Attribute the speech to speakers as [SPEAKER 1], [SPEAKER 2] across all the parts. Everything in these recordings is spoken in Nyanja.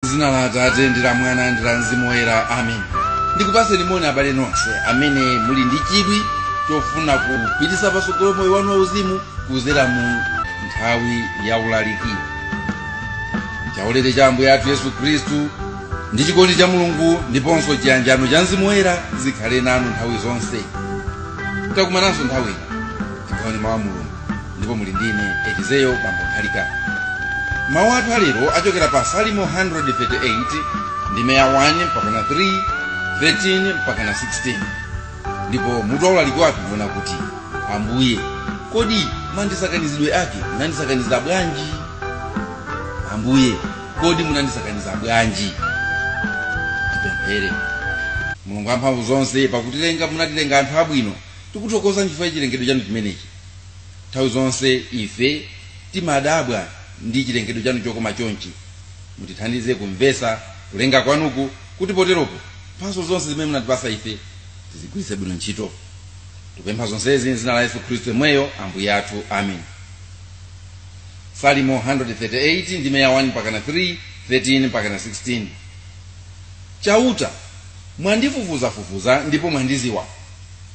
[SPEAKER 1] zina la atate ndi la mwana ndi la mzimu woyera amen ndikupatseni moni abale nonse amene muli ndi chidwi chofuna kupititsa patsogolo moyo wanu wauzimu kuzera mu nthawi ya ulaliki chaulere cha ambuye athu yesu khristu ndi chikondi cha mulungu ndiponso chiyanjano cha mzimu woyera zikhale nanu nthawi zonse takumananso nthawi ino tigawane mawu a mulungu ndipo muli ndine elizeo bambo nthalika mawu athu alero achokera pa salimo 138 ndime ya 1 mpakana 3 13 mpakana 16 ndipo mutu waulaliki wathu ndiona kuti ambuye kodi mandisakanizidwe ake munandisakaniza bwanji ambuye kodi munandisakaniza bwanji tipemphere mulungu wamphamvu zonse pakutilenga munatilenga anthu abwino tikuthokoza chifukwa cha chilengedwe chanu chimenechi nthawi zonse ife timadabwa ndi chilengedwe chanu chokoma chonchi mutithandize kumvesa kulenga kwanuku kuti poteropo mphaso zonse zimene munatipasa ife tizigwiritse bwino ntchito tikupempha zonsezi mzina la yesu khristu yemweyo ambuye athu amen salimo 138 ndime ya 1 mpakana 3 13 mpakana 16 chauta mwandifufuzafufuza ndipo mwandiziwa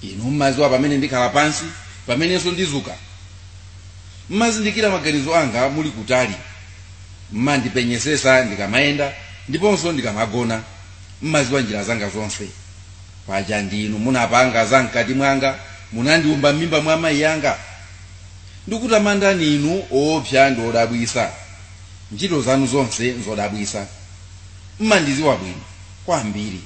[SPEAKER 1] inu mmaziwa pamene ndikhala pansi pamenenso ndizuka mmazindikira maganizo anga muli kutali mmandipenyesesa ndikamayenda ndiponso ndikamagona mmaziwa njira zanga zonse paja ndinu munapanga za mkati mwanga munandiumba m'mimba mwa amayi anga ndikutamandani inu oopsa ndi odabwisa ntchito zanu zonse nzodabwisa mmandiziwa bwino kwambiri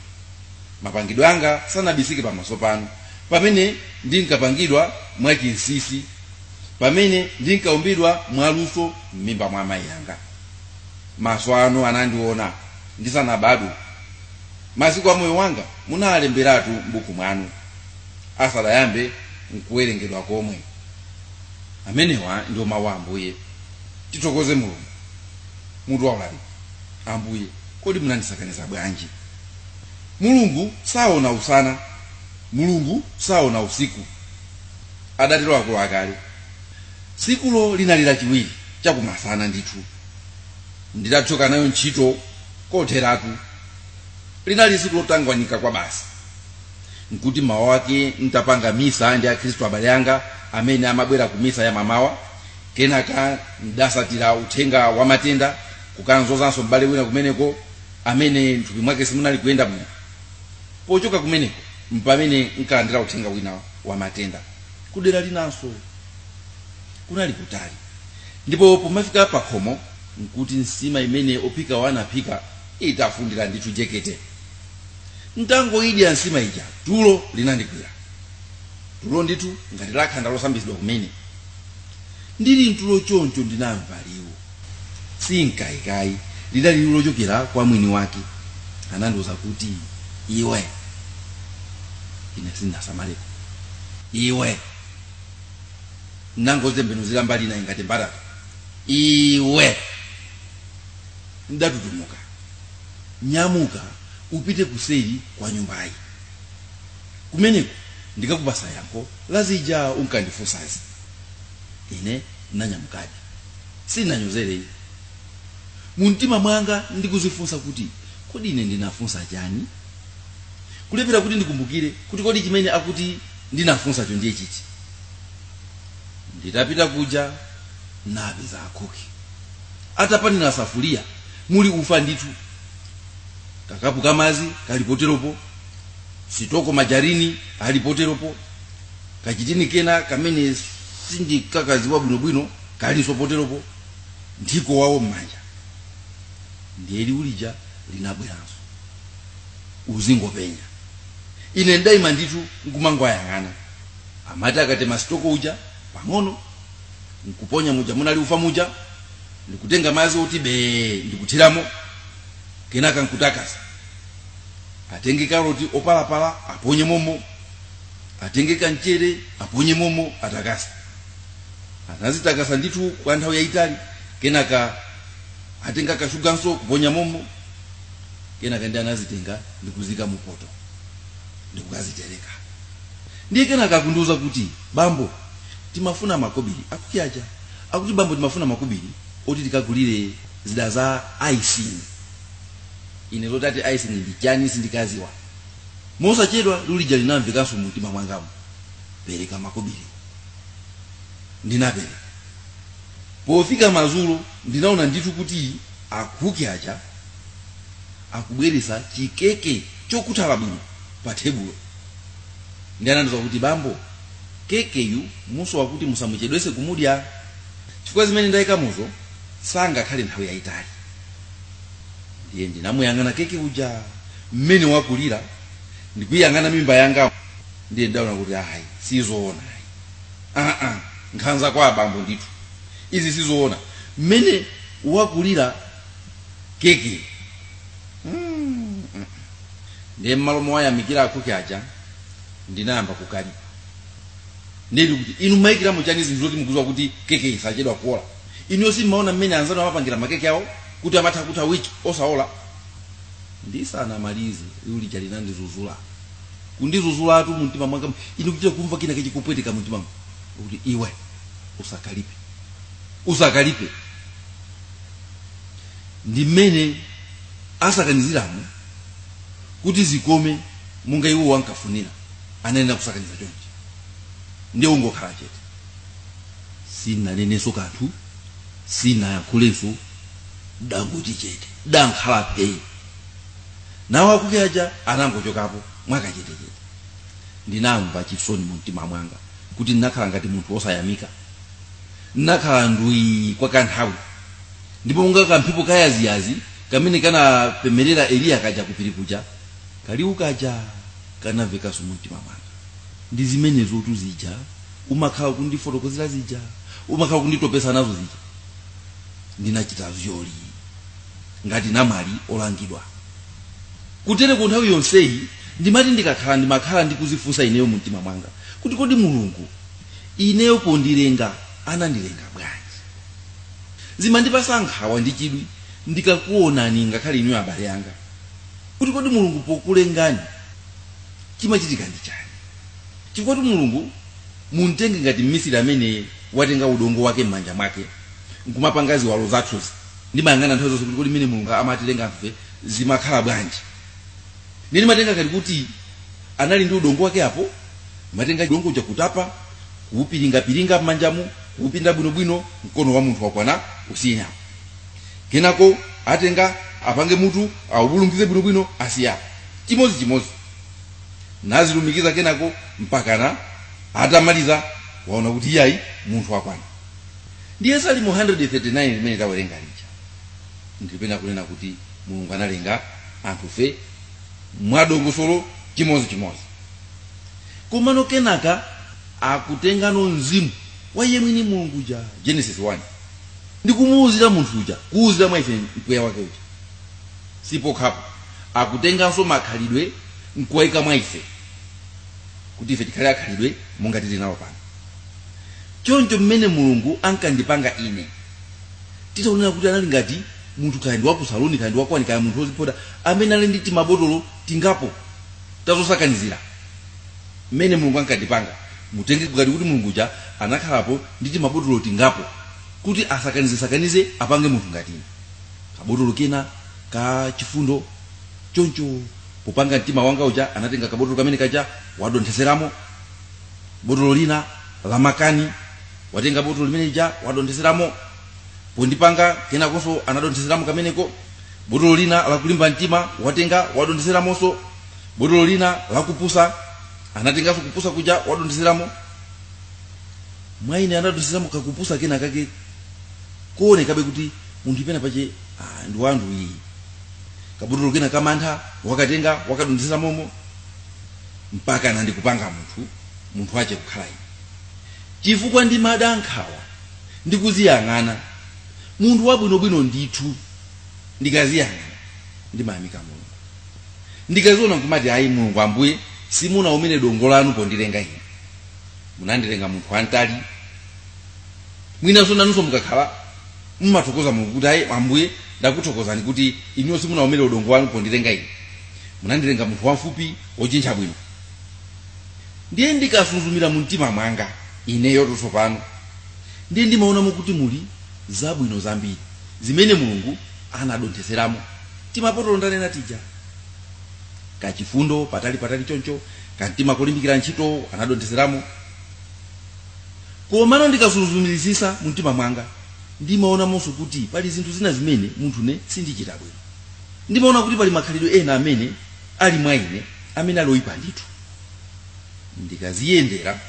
[SPEAKER 1] mapangidwe anga sanabisike pamaso panu pamene ndinkapangidwa mwachinsisi pamene ndinkaumbidwa mwaluso m'mimba mwa amayi anga maso anu anandiona ndisanabadwe masiku a moyo wanga munalemberatu m'buku mwanu asadayambe nkuwerengedwa komwe amenewa ndiwo mawu a ambuye tithokoze mulungu mutu waulaliki ambuye kodi munandisakaniza bwanji Mulungu saona usana, Mulungu saona usiku, adatero akulu akale. Tsikulo linali Lachiwiri chakumasana ndithu. Ndidathyoka nayo ntchito kotheratu. Linali tsiku lotangwanika kwabasi. Nkuti m'mawa wake ntapanga misa ndi Akhristu abale anga amene amabwera ku misa ya m'mamawa, kenaka ndidasatira uthenga wa matenda kukamzozanso m'bale wina kumeneko amene m'thupi mwake simunali kuyenda bwino. Pochoka kumeneko mpamene nkalandira uthenga wina wa matenda kudera linanso. Kunali kutali, ndipo pomafika pakhomo nkuti nsima imene ophikawo anaphika itafundira ndithu jekete. Ntangoidya nsima ija tulo linandigwira, tulo ndithu ngati la khanda losambitsidwa kumene. Ndili mtulo choncho ndinamva liwu. sinkayika ayi lidali liwu lochokera kwa mwini wake anandiuza kuti iwe ine sinasamaleko iwe nangozembenuzira mbali inayi ngati mbatata iwe ndatutumuka nyamuka upite kuseri kwa nyumbayi kumeneko ndikakupasa yankho la zija unkandifunsazi ine nanyamukadi Sinanyozere ayi. Mu mtima mwanga ndikuzifunsa kuti, Kodi ine ndinafunsa chani? Kulephera kuti ndikumbukire kuti kodi chimene akuti ndinafunsacho ndiye chichi. Nditapita kuja napeza akhuki atapanira safuriya muli ufa ndithu, kakapu ka madzi kali poteropo, sitoko majarini ali poteropo. kachitini kena kamene sindikakaziwa bwinobwino kalinso poteropo nthiko wawo m'manja ndiye liwu lija linabweranso uzingopenya ine ndaima ndithu nkumangwayang'ana amati akatema sitoko uja pang'ono nkuponya muja munali ufa muja ndikutenga madzi ati bee ndikuthiramo kenaka nkutakasa atenge karoti opalapala aponye momo atenge kamchere aponye momo atakasa anazitakasa ndithu kwa nthawi yayitali kenaka atenga kashuganso kuponya momo kenaka ndi anazitenga ndikuzika mupoto ndikukazitereka ndiye kenaka nkundiuza kuti bambo timafuna makobiri akhuki aja akuti bambo timafuna makobiri oti tikagulire zida za icing ine zoti ati icing ndi chani sindinkaziwa Mosachedwa liwu lija linamvekanso mumtima mwangamu, Pereka makobili. Ndinapereka. Pofika madzulo ndinaona ndithu kuti akhuki aja akubweretsa chikeke chokhuthala bwino pathebulo. Ndiye anandiuza kuti, Bambo, kekeyu muso wakuti musamuchedwetse kumudya chifukwa zimene ndaikamuzo sangakhale nthawi yaitali. ndiye ndinamuyang'ana keke uja mmene wakulira ndikuyang'ana mimba yanga ndiye ndaona kuti ayi sizoona ayi aa nkhanza kwa abambo ndithu izi sizoona mmene wakulira keke Mm, mm. ndiye mmalo mowayamikira akhuki aja ndinayamba kukalipa ndili kuti inu mayikiramo chani zinthu zoti mukuziwa kuti keke isachedwa kuola inuyo simmaona mmene anzanu amapangira makeke awo kuti amatha kutha wiki osaola ndisanamalize liwu lija linandizuzula kundizuzulatu mumtima mwanga mu- ine kuchita kumva china chake chikupweteka mumtima mwanga kuti iwe usakalipe usakalipe ndi mmene asakaniziramo kuti zikome monga iwe unkafunira ananena kusakaniza chonchi ndiye ungokhala chete sinnaneneso kanthu sinnayankhulenso dangoti chete dankhala phee nawo akhuki aja anangochokapo mwakachetechete ndinamva chisoni mu mtima mwanga kuti ndinakhala ngati munthu wosayamika ndinakhala ndwi kwa kanthawi ndipo monga kamphepo kayaziyazi kamene kanapemerera eliya kaja kupiri kuja kaliwu kaja kanamvekanso mu mtima mwanga ndi zimenezo tuzija umakhala kundifotokozera zija umakhala ukunditopesa nazo zija ndinachita zoli ngati namwali olangidwa kutereko nthawi yonseyi ndimati ndikakhala ndimakhala ndikuzifunsa ineyo mu mtima mwanga kuti kodi mulungu ineyo pondilenga anandilenga bwanji zimandipasa nkhawa ndi chidwi ndikakuonani ngakhale inuyo abale anga kuti kodi mulungu pokulengani chimachitika ndi chani chifukwatu mulungu mumtenge ngati mmisiri amene watenga udongo wake m'manja mwake nkumapanga ziwalo zathuzi ndimayang'ana nthawi zonse kuti kodi mmene mulungu amatilenga anthufe zimakhala bwanji ndiye ndimatenga ngati kuti anali ndi udongo wake apo ndi kumatenga udongo uja kutapa kuupiringapiringa m'manjamu kuupinda bwinobwino mkono wa munthu wakwana ausiya apo kenako atenga apange mutu aubulungize bwinobwino asiya apo chimodzichimodzi nazilumikiza kenako mpakana atamaliza waona kuti iyayi munthu wakwana ndiye salimo 139 limene tawerenga lija likunena kunena kuti mulungu analenga anthufe mwadongosolo chimodzi chimodzi komano kenaka akutengano mzimu wa iye mwini mulungu uja genesis 1 ndikumuwuzira munthu uja kuwuzira mwa ife mpweya wake uja sipokhapo akutenganso makhalidwe nkuwaika mwa ife kuti ife tikhale akhalidwe monga tili nawo pano choncho mmene mulungu ankandipanga ine titayerekeza kuti anali ngati munthu kaya ndi wakusaloni kaya ndi wakwani kaya munthu wozipoda amene ali ndi timabotolo tingapo tazosakanizira mmene mulungu ankandipanga mutenge ngati kuti mulungu uja anakhalapo ndi timabotolo tingapo kuti asakanizesakanize apange munthu ngati ine kabotolo kena ka chifundo choncho popanga mtima wanga uja anatenga kabotolo kamene kaja wadontheseramo botolo lina la makani watenga botolo limene lija wadontheseramo pondipanga kenakonso anadontheseramo kameneko botolo lina la kulimba mtima watenga wadontheseramonso botolo lina la kupusa anatenganso kupusa kuja wadontheseramo mwa ine anadontheseramo kakupusa kena kake kuonekabe kuti munthuyi pena pache ndi wanthu uyu kabotolo kena kamantha wakatenga wakadonthetsamo mpaka na ndikupanga munthu munthu wache kukhala ine chifukwa ndimada nkhawa ndikuziyang'ana munthu wabwinobwino ndithu ndikaziyang'ana ndimayamika mulungu ndikaziona kumati ayi mulungu ambuye simunaumire dongo lanu pondilenga ine munandilenga munthu wamtali mwinanso nanunso mukakhala mumathokoza mulungu kuti ayi ambuye ndakuthokozani kuti inuyo simunaumire dongo lanu pondilenga ine munandilenga munthu wamfupi wojintcha bwino ndiye ndikasuzumira mu mtima mwanga ineyo tsopano ndiye ndimaonamo kuti muli zabwino zambiri zimene mulungu anadontheseramo timabotolo ndanena tija kachifundo patali patali choncho kamtima kolimbikira ntchito anadontheseramo Komano ndikasuzumiritsitsa mumtima mwanga, ndimaonamonso kuti pali zinthu zina zimene munthune sindichita bwino. Ndimaona kuti pali makhalidwe ena amene ali mwa ine amene ali oipa ndithu. Ndikadziyendera,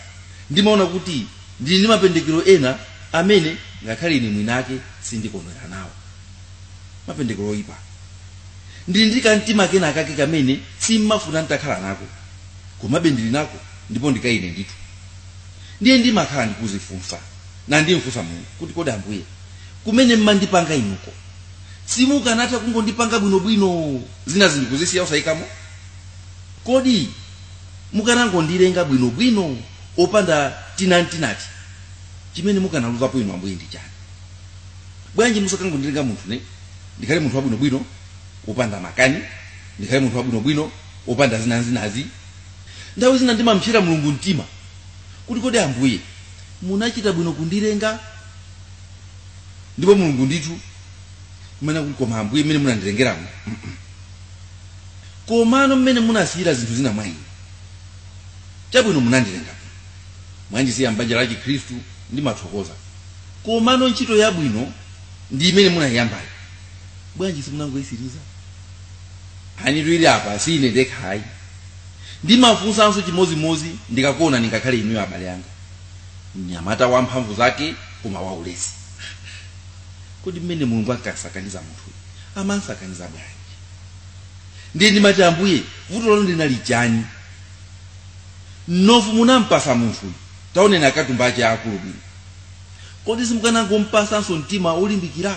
[SPEAKER 1] ndimaona kuti ndili ndi mapendekero ena amene ngakhale ine mwiniake sindikondwera nawo. Mapendekero oipa. Ndili ndi kamtima kenakake kamene sim'mafuna n'takhala nako, komabe ndili nako ndipo ndi ka ine ndithu. ndiye ndimakhala ndikuzifunsa nandimfunsa mulungu kuti kodi ambuye kumene mmandipanga inuko simukanatha kungondipanga bwinobwino zina zinthu kuzisiya osayikamo kodi mukanangondilenga bwinobwino opanda tinatinati chimene mukanaluzapo inu ambuye ndi chani bwanji musakangondilenga munthune ndikhale munthu wabwinobwino opanda makani ndikhale munthu wabwinobwino opanda zinazinazi Nthawi zina ndimam'psera Mulungu mtima kuti, Kodi Ambuye munachita bwino kundilenga? Ndipo Mulungu ndithu kumene kuti, Koma Ambuye mmene munandilengeramu, mm-mm. komano mmene munasiyira zinthu zina mwa ine. Chabwino munandilenga bwino. Mwandisiya m'banja la Chikhristu ndimathokoza. Komano ntchito yabwinonso imene munayiyambayo. Bwanji simunangoyitsiriza? Anthu tili apa si ine ndekha ayi. Ndimafunsanso chimodzimodzi ndikakuonani ngakhale inuyo abale anga. Mnyamata wamphamvu zake koma waulesi. Kodi mmene Mulungu ankasakaniza munthuyu amansakaniza bwanji? Ndiye ndimati Ambuye, vuto lanu linali chani? Mnofu munampasa munthuyu, taoneni akatumba ake aakulu bwino. Kodi simukanangompasanso mtima wolimbikira?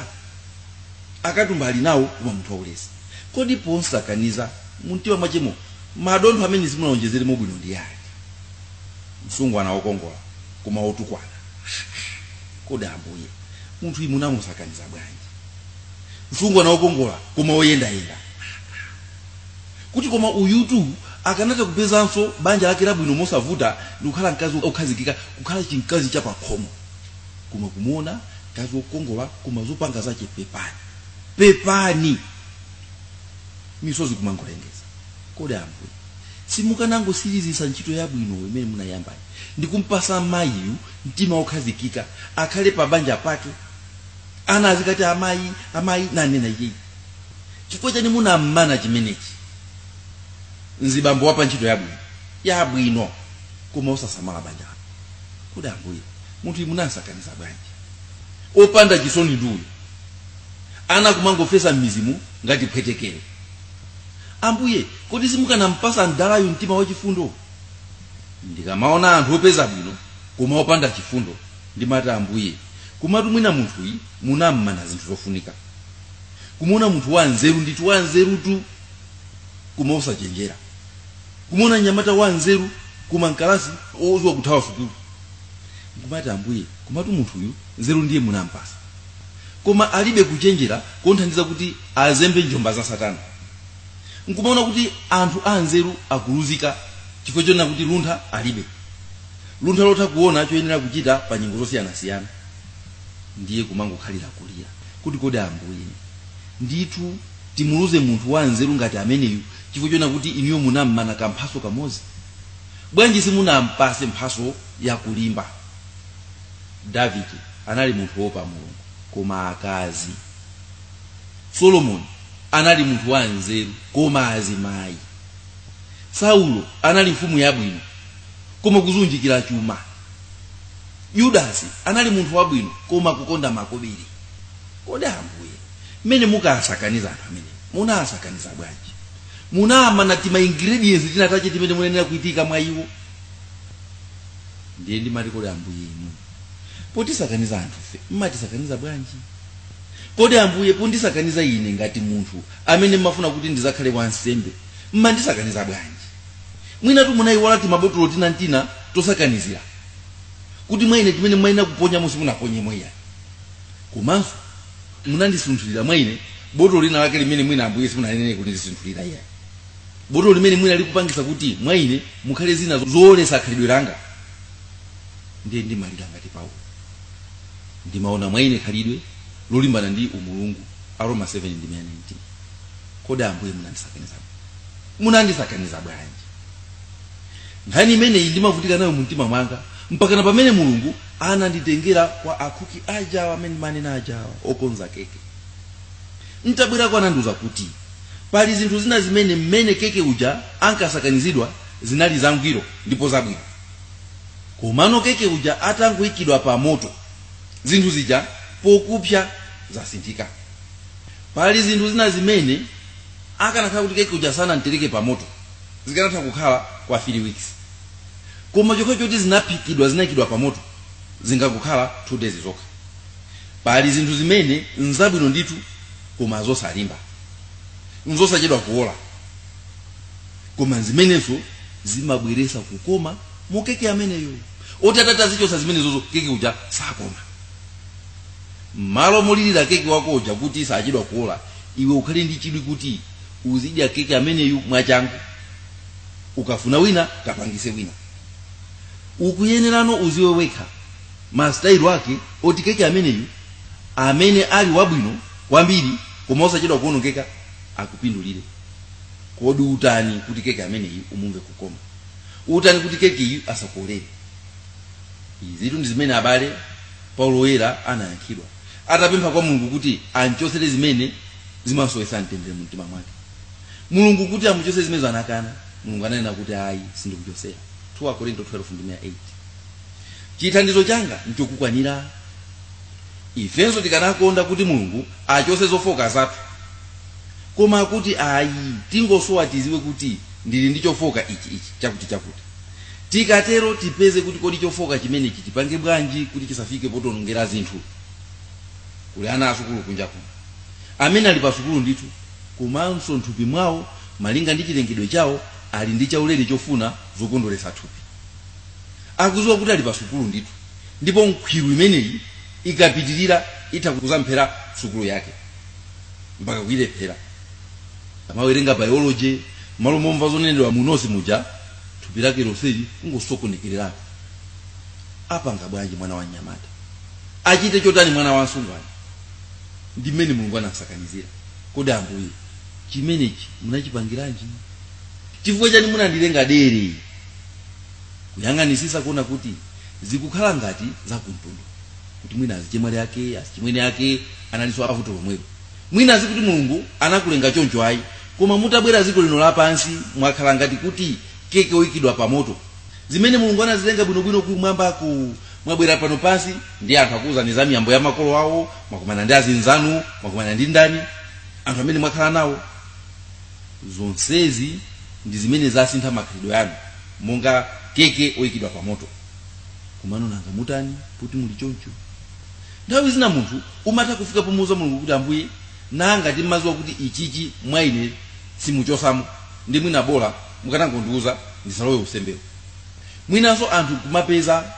[SPEAKER 1] Akatumba ali nawo koma munthu waulesi. Kodi pomsakaniza mumtima mwachemo madontho amene simunaonjezeremo bwino ndi yani? Msungwana wokongola koma wotukwana? Ha-ha! Kodi Ambuye, munthuyu munamusakaniza bwanji? Msungwana wokongola koma woyendayenda? Ha-ha! Kuti koma uyutu akanatha kupezanso banja lake labwino mosavuta ndi kukhala mkazi wokhazikika, kukhala chimkazi chapakhomo. Koma kumuona mkazi wokongola koma zopanga zache pepani! pepani misozi kumangolengeza kodi ambuye simukanangotsirizitsa ntchito yabwino imene munayambayo ndikumpasa mayiyu mtima wokhazikika akhale pa banja pake ana azikati amayi amayi nanena iyeyi chifukwa chani munammana chimenechi mzibambo wapa ntchito yabwino yabwino koma osasamala banja lake kodi ambuye munthuyu munamsakaniza bwanji opanda chisoni ndi uyu ana kumangofesa m'midzimu ngati phwetekere ambuye kodi simukanampasa mdalayu mtima wachifundo ndikamaona anthu opeza bwino koma opanda chifundo ndimati ambuye komatu mwina munthuyu munammana zinthu zofunika kumuona munthu wa nzeru ndithu wa nzerutu koma osachenjera kumuona mnyamata wa nzeru koma m'kalasi odziwa kuthawa sukulu nkumati ambuye komatu munthuyu nzeru ndiye munampasa koma alibe kuchenjera komthandiza kuti azembe njomba za satana nkumaona kuti anthu anzeru akuluzika chifukwa chonena kuti luntha alibe luntha lotha kuona choyenera kuchita pa nyengo zosiyanasiyana ndiye kumangokhalira kulira kuti kodi ambuye ndithu timuluze munthu wanzeru ngati ameneyu chifukwa chonena kuti inuyo munammana kamphatso kamodzi bwanji simunampatse mphatso yakulimba davide anali munthu wopa mulungu koma akazi solomoni anali munthu wa nzeru koma azimayi saulo anali mfumu yabwino koma kuzunjikira chuma yudasi anali munthu wabwino koma kukonda makobiri kodi ambuye mmene munkasakaniza anthu amene munasakaniza bwanji munamana tima ingredients tinatache timene munayenera kuitika mwa iwo ndiye ndimati kodi ambuye inu potisakaniza anthufe mmatisakaniza bwanji kodi ambuye pondisakaniza ine ngati munthu amene mmafuna kuti ndizakhale wansembe mmandisakaniza bwanji mwinatu munayiwala timabotolo tinatina tosakanizira kuti mwa ine timene mmayenera kuponya musi munaponye mweya komanso munandisunthulira mwa ine botolo lina lake limene mwina ambuye simunanene kundisunthulira iyayi botolo limene mwina likupangisa kuti mwa ine mukhale zina zoolesa khalidwe langa ndiye ndimalira ngati paulo ndimaona mwa ine khalidwe lolimbana ndi umulungu aroma 7 ndi 19 kodi ambuye munandisakaniza munandisakaniza bwanji nkhani imeneyi ndimavutika nayo mumtima mwanga mpaka na pamene mulungu ananditengera kwa akuki ajawa amene ndimanena ajawa okonza keke N'tabwerako anandiuza kuti pali zinthu zina zimene mmene keke uja ankasakanizidwa zinali zangwiro ndipo zabwino. Komano keke uja atangoikidwa pamoto, zinthu zija pokupsa zasinthika. Pali zinthu zina zimene akanakhala kuti keke uja sanam'tereke pamoto, zikanatha kukhala kwa 3 weeks. Koma chokhacho choti zinaphikidwa, zinaikidwa pamoto, zikungokhala 2 days zokha. Pali zinthu zimene nzabwino ndithu koma zosalimba, nzosachedwa kuola, koma nzimenenso zimabweresa kukoma mu keke ameneyo. Oti atati azichotsa zimenezozo keke uja sakoma. M'malo molilira keke wako uja kuti sachedwa kuola, iwe ukhale ndi chidwi kuti uzidya keke ameneyu mwachangu. Ukafuna wina kapangise wina. Ukuyenerano uziwe wekha masitayilo ake oti keke ameneyu amene ali wabwino kwambiri koma osachedwa kuonongeka akupindulire kodi utani kuti keke ameneyu umumve kukoma utani kuti kekeyu asakuolere izitu ndi zimene abale paulo woyera anayankhidwa atapempha kwa mulungu kuti amchotsere zimene zimamsowetsa mtendere mu mtima mwake mulungu kuti amuchotsere zimenezo anakana mulungu ananena kuti ayi sindikuchotsera 2 akorinto 12 ndime ya 8 chithandizo changa nchokukwanira ifenso tikanakonda kuti mulungu achose zofoka zathu koma kuti ayi tingosowa tiziwe kuti ndili ndi chofoka ichi chakuti tikatero tipeze kuti kodi chofoka chimenechi tipange bwanji kuti chisafike potonongera zinthu kuli ana asukulu kunja kuno amene ali pasukulu ndithu komanso nthupi mwawo malinga ndi chilengedwe chawo ali ndi chaulere chofuna zokondweretsa thupi akuziwa kuti ali pa sukulu ndithu ndipo nkhwiru imeneyi ikapitirira itha kuzamuphera sukulu yake mpaka kuyilephera amawerenga biology malo momva zonenedwa munosi muja thupi lake lonseli kungosokonekererako apanga bwanji mwana wa mnyamata achite chotani mwana wa msungwana ndi mmene mulungu anasakanizira kodi ambuye chimenechi munachipangiranji chifukwa chani munandilenga dere kuyang'anisisa kuona kuti zikukhala ngati za kumtundu kuti mwina azichemwali ake azichimwene ake analinso avuto lomwelo mwina azikuti mulungu anakulenga choncho ayi koma mutabwera ziko lino lapansi mwakhala ngati kuti keke oyikidwa pa moto zimene mulungu anazilenga bwinobwino kumwamba mwabwera pano pansi ndi anthu akuwuzani za miyambo ya makolo awo mwakumana ndi azinzanu mwakumana ndi ndani anthu amene mwakhala nawo zonsezi ndi zimene zasintha makhalidwe anu monga keke oyikidwa pa moto komano nanga mutani kuti muli choncho nthawi zina munthu umatha kufika pomuuza mulungu kuti ambuye nanga ngati mmaziwa kuti ichichi mwa ine simuchosamo ndi mwina bola mukanangondiuza ndisalowe usembewo mwinanso anthu kumapeza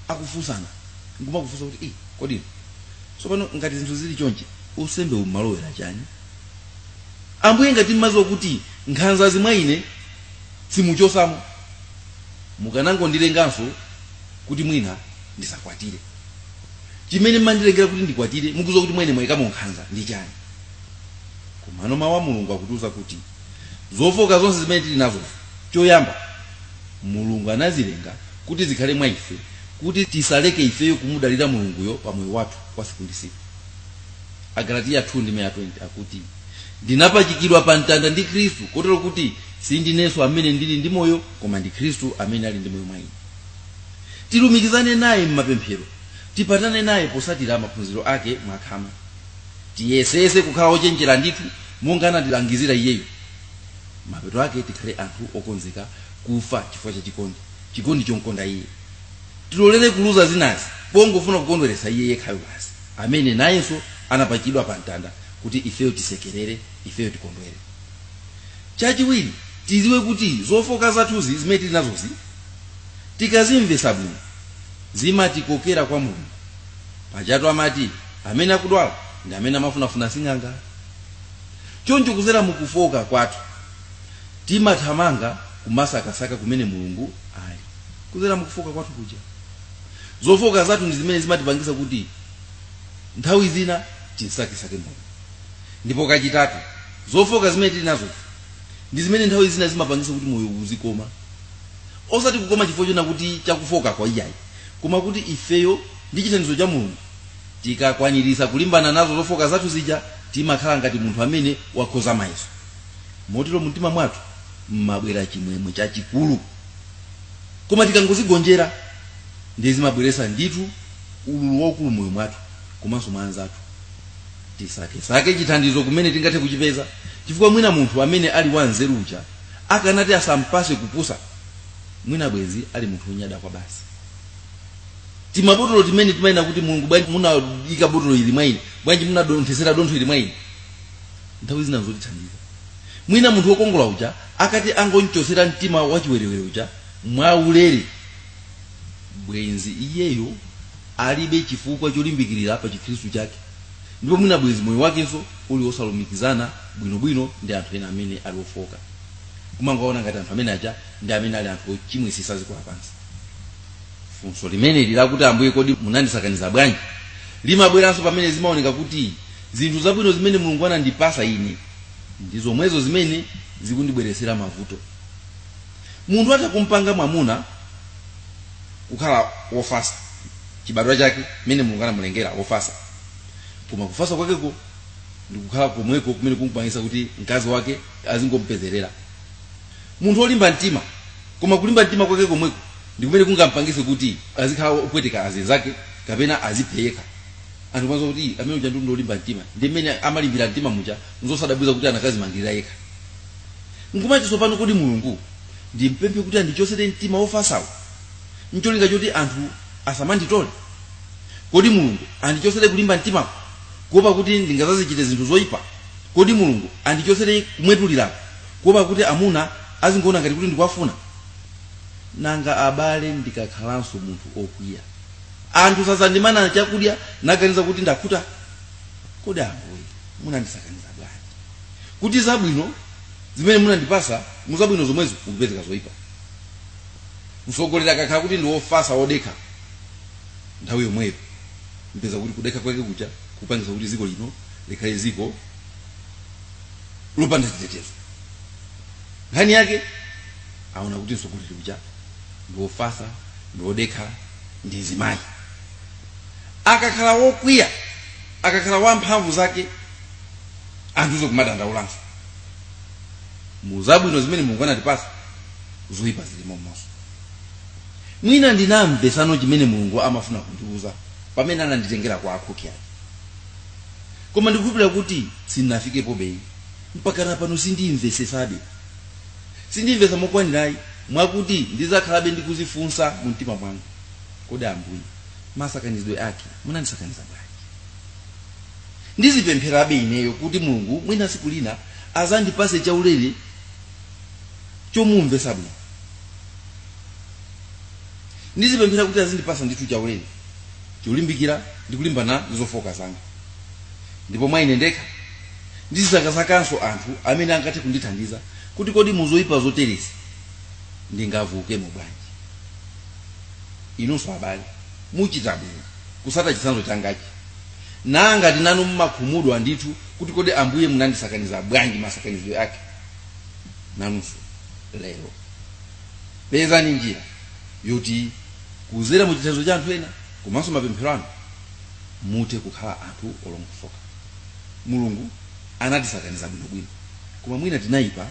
[SPEAKER 1] akufunsana nkumakufunsa kuti kodi tsopano ngati zinthu zili chonchi usembe umalowera chani Ambuye ngati mmaziwa kuti nkhanzazi mwa ine simuchosamo mukanangondilenganso kuti mwina ndisakwatire. Chimene mmandilengera kuti ndikwatire mukuziwa kuti mwa ine mwaikamo nkhanza ndi chani? Komano mau a Mulungu akutiuza kuti zofoka zonse zimene tili nazo choyamba Mulungu anazilenga kuti zikhale mwa ife kuti tisaleke ifeyo kumudalira Mulunguyo pa moyo wathu wa siku ndi siku. agalatiya 2 ndime ya 20 akuti ndinapachikidwa pa mtanda ndi khristu kotero kuti sindinenso amene ndili ndi moyo koma ndi khristu amene ali ndi moyo mwa ine tilumikizane naye m'mapemphero tipatane naye posatira maphunziro ake mwakhama tiyesese kukhala ochenjera ndithu monga anatilangizira iyeyo mapeto ake tikhale anthu okonzeka kufa chifukwa cha chikondi chomkonda iye tilolere kuluza zinazi pongofuna kukondweretsa iye yekhayo basi amene nayenso anapachikidwa pa mtanda kuti ifeyo tisekerere ifeyo tikondwere chachiwiri tiziwe kuti zofoka zathuzi zimene tili nazozi tikazimvesa bwino zimatikokera kwa mulungu pajatu amati amene akudwala ndi amene amafunafuna sing'anga choncho kuzera mukufoka kwathu timathamanga kumasakasaka kumene mulungu ali kuzera mukufoka kwathu kuja zofooka zathu ndi zimene zimatipangisa kuti nthawi zina tinsakisake mulungu ndipo kachitatu zofooka zimene tili nazo ndi zimene nthawi zina zimapangisa kuti moyo uzikoma osati kukoma chifukwa chonena kuti chakufookako iyayi koma kuti ifeyo ndi chithandizo cha mulungu tikakwanirisa kulimbana nazo zofooka zathu zija timakhala ngati munthu amene wakhoza mayeso motero mumtima mwathu mmabwera chimwemwe chachikulu Koma tikangozigonjera ndiye zimabweretsa ndithu ululu waukulu m'moyo mwathu komanso mwa anzathu. Tisakesake chithandizo kumene tingathe kuchipeza, chifukwa mwina munthu amene ali wanzeru uja akanati asampatse kupusa, mwina bwenzi ali munthu wonyada kwabasi. Timabotolo timene timanena kuti, Mulungu bwanji munaika botolo ili mwa ine? Bwanji munadonthetsera dontho ili mwa ine? Nthawi zina n'zotithandiza. mwina munthu wokongola uja akati angonchosera mtima wachiwerewere uja mwaulere bwenzi iyeyo alibe chifukwa cholimbikirira pa chikhristu chake ndipo mwina bwenzi moyo wakenso uli wosalumikizana bwinobwino ndi anthu ena amene ali ofoka kumangoona ngati anthu amene aja ndi amene ali anthu ochimwisisa dziko lapansi funso limeneli lakuti ambuye kodi munandisakaniza bwanji limabweranso pamene zimaoneka kuti zinthu zabwino zimene mulungu anandipasa ine ndi zomwezo zimene zikundibweretsera mavuto munthu atakumpanga mwamuna kukhala wofasa chibadwa chake mmene mulungu anamulengera wofasa koma kufasa kwakeko ndikukhala komweko kumene kumupangisa kuti mkazi wake azingompezerera munthu olimba mtima koma kulimba mtima kwake komweko ndikumene kungampangise kuti azikhala opweteka azinzake kapena aziphe yekha anthu m'mazati kuti "Ii, amene uja ndi olimba mtima ndi mmene amalimbira mtima muja nzosadabwiza kuti anakazimangirira yekha nkumati tsopano kodi mulungu ndimpemphe kuti andichotsere mtima wofasawo ncholinga choti anthu asamanditole kodi mulungu andichotsere kulimba mtimako kuopa kuti ndingazazichite zinthu zoyipa kodi mulungu andichotsere kumwetulirako kuopa kuti amuna azingoona ngati kuti ndikuwafuna nanga abale ndikakhalanso munthu okwiya anthu sazandimana chakudya naganiza kuti ndakhuta kodi ambuye munandisakaniza bwanji kuti zabwino zimene munandipasa muzabwino zomwezo mukupezekanso zoyipa mtsogoleri akakhala kuti ndi wofasa wodekha nthawi yomweyo mupeza kuti kudekha kwake kuja kupangisa kuti ziko lino likhale ziko lopanda chitetezo nkhani yake aona kuti mtsogoleri uja ndi wofasa ndi wodekha ndi mzimayi akakhala wokwiya akakhala wamphamvu zake anthunso kumadandaulanso mu zabwino zimene mulungu anatipasa zoyipa zilimomonso mwina sindinamvesebe chimene mulungu amafuna kundiuza pamene ananditengera kwa akhoki ake koma ndikukhulupirira kuti sindinafikepo beyi mpaka napano sindimvesesabe sindimvesa mokwanirayi mwakuti ndizakhalabe ndikuzifunsa mu mtima mwanga kodi ambuye masakanizidwe ake munandisakaniza bwanji ndizipempherabe ineyo kuti mulungu mwina siku lina azandipase chaulere chomumvesa bwino ndizipemphera kuti azindipasa ndithu chaulere cholimbikira ndikulimbana ndi zofooka zanga ndipo mwa ine ndekha ndizisakasakanso anthu amene angathe kundithandiza kuti kodi muzoyipa zoterezi ndingavukemo bwanji inunso abale muchita bwino kusata chitsanzo changachi ngati nanu mmakhumudwa ndithu kuti kodi ambuye munandisakaniza bwanji masakanizidwe ake nanunso lero pezani njira yoti kuzera mu chitsanzo cha anthu ena komanso mapemphero anu muthe kukhala anthu olongosoka Mulungu anatisakaniza bwinobwino, koma mwina tinaipa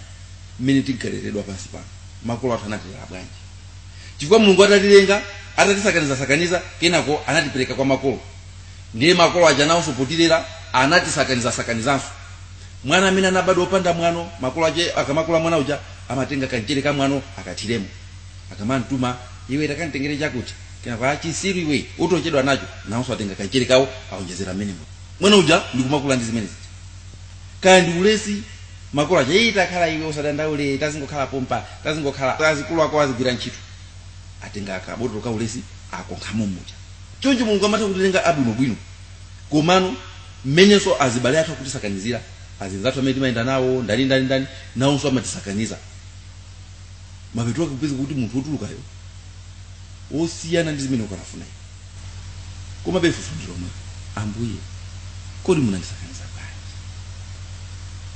[SPEAKER 1] mmene tinkaleredwa pansi pano. Makolo athu anatilera bwanji? Chifukwa Mulungu atatilenga, atatisakanizasakaniza, kenako anatipereka kwa makolo, ndiye makolo aja nawonso potilera anatisakanizasakanizanso. Mwana amene anabadwa opanda mwano, makolo ake akamakula mwana uja amatenga kamchere ka mwano akathiremo, akamam'tuma, Iwe takanditengere chakuti. Kenako, Ah, chisiru iwe, utochedwa nacho. Nawonso atenga kamchere kawo aonjezera mmenemo. mwana uja ndikumakula ndi zimene zija kaya ndi ulesi makolo aja iyi takhala iwe usadandaule tazingokhala pompa tazingokhala achikulu ako azigwira ntchito atenga kabotolo ka ulesi akonkhamo muja choncho mulungu amatha kutilenga abwinobwino komano mmenenso azibale athu akutisakanizira azinzathu amene timayenda nawo ndani ndani ndani nawonso amatisakaniza mapeto ake kupeza kuti munthu wotulukayo wosiyana ndi zimene ukanafuna iwe komabe funso ndi lomwe ambuye kodi munandisakaniza bwanji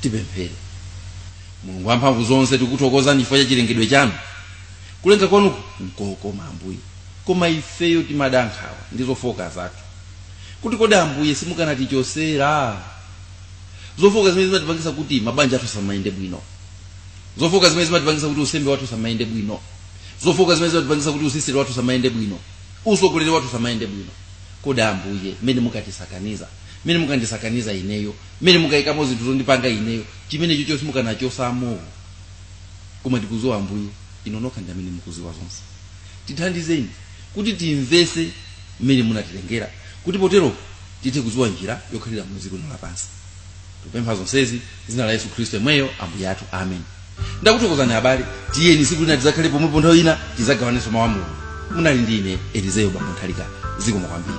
[SPEAKER 1] tipemphere mulungu wamphamvu zonse tikuthokozani chifukwa cha chilengedwe chanu kulenga kwanuku nkokoma ambuye koma ifeyo timada nkhawa ndi zofooka zathu kuti kodi ambuye simukanatichosera zofooka zimene zimatipangisa kuti mabanja athu asamayende bwino zofooka zimene zimatipangisa kuti usembe wathu usamayende bwino zofooka zimene zimatipangisa kuti usisitere wathu usamayende bwino usogoleri wathu usamayende bwino kodi ambuye mmene mukatisakaniza mmene mukandisakaniza ineyo mmene mukayikamo zinthu zondipanga ineyo chimene chicho simukanachosamo koma tikuziwa ambuye inu nokha ndi amene mukuziwa zonse tithandizeni kuti timvese mmene munatilengera kuti potero tithe kuziwa njira yokhalira mu dziko lino lapansi tikupempha zonsezi m'dzina la yesu khristu yemweyo ambuye athu amen ndakuthokozani abale tiyeni tsiku lina tidzakhale pomwepo nthawi ina tidzagawanenso mawu a mulungu munali ndi ine elizeyo bambo nthalika zikomo kwambiri